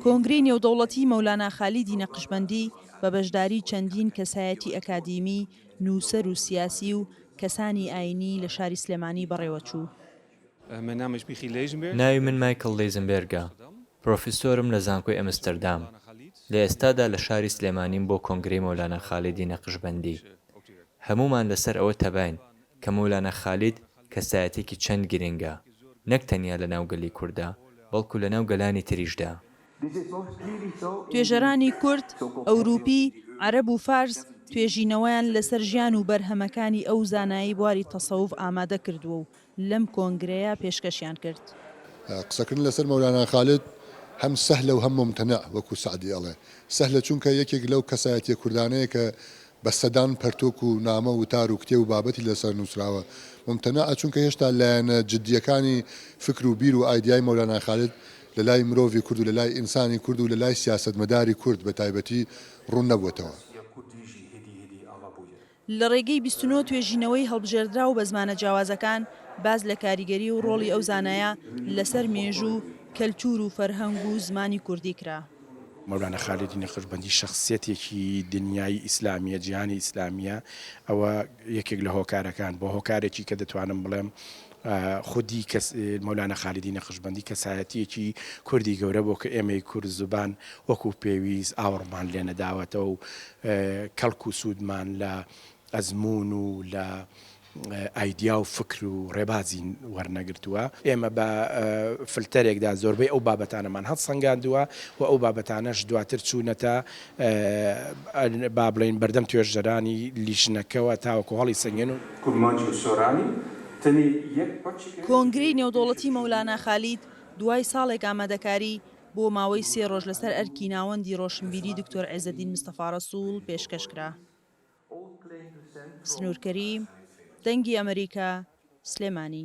کۆنگرەی نێودەوڵەتی مەولانا خالیدی نەقشبەندی بە بەشداری چەندین کەسایەتی ئەکادیمی، نووسەر و سیاسی و کەسانی ئایینی لە شاری سلێمانی بەڕێوەچوو. ناوی من مایکڵ لیزنبێرگە، پرۆفیسۆرم لە زانکۆی ئەمستەردام، لە ئێستادا لە شاری سلێمانیم بۆ کۆنگرەی مەولانا خالیدی نەقشبەندی. هەموومان لەسەر ئەوە تەباین کە مەولانا خالید کەسایەتیەکی چەند گرنگە نەک تەنیا لە ناو گەلی کورددا بەڵکو لە ناو گەلانی تریشدا. توێژەرانی کورد، ئەوروپی، عەرەب و فارس توێژینەوەیان لەسەر ژیان و بەرهەمەکانی ئەو زانایەی بواری تەسەوف ئامادە کردووە و لەم کۆنگرەیە پێشکەشیان کرد. قسەکردن لەسەر مەولانا خالید هەم سەهلە و هەم مومتەنەع وەکو سەعدی ئەڵێ سەهلە چونکە یەکێک لەو کەسایەتیە کوردانەیە کە بە سەدان پەرتوک و نامە وتار و کتێب و بابەتی لەسەر نوسراوە ممتنعە چونکە هێشتا لایەنە جدیەکانی فکر و بیر و ئایدیای مەولانا خالد لەلای مرۆڤی کورد و لەلای ئینسانی کورد و لەلای سیاسەتمەداری کورد بەتایبەتی ڕوون نەبوەتەوە. لە ڕێگەی بیست و نۆ توێژینەوەی هەڵبژێردراو بە زمانە جیاوازەکان باس لە کاریگەری و ڕۆڵی ئەو زانایە لەسەر مێژوو، کەلتور و فەرهەنگ و زمانی کوردی کرا. مەولانا خالید نەقشبەندی شەخسیەتێکی دنیای ئیسلامیە جیهانی ئیسلامیە ئەوە یەکێک لە هۆکارەکان بۆ هۆکارێکی کە دەتوانم بڵێم خودی کەس مەولانە خالیدی نەخشبندی کەسایەتیەکی کوردی گەورە بۆ کە ئێمەی کورد زبان وەکو پێویست ئاوڕمان لێ نەداوەتەوە و کەڵک و سوودمان لە ئەزمون و لە ئایدیا و فکر و ڕێبازی وەرنەگرتووە. ئێمە بە فلتەرێکدا زۆربەی ئەو بابەتانەمان هەڵسەنگاندووە و ئەو بابەتانەش دواتر چوونەتە با بڵێین بەردەم توێژەرانی لیژنەکەوە تاوەکو هەڵیسەنگێن و. کرمانج و سۆرانی تەنێ یەک پەرچێک لە. کۆنگرەی نێودەوڵەتی مەولانا خالید دوای ساڵێک ئامادەکاری، بۆ ماوەی سێ ڕۆژ لەسەر ئەرکی ناوەندی ڕۆشنبیری دکتۆر عێزەدین مستەفا ڕەسووڵ پێشکەش کرا. سنوورکەری دەنگی ئەمەریکا، سلێمانی.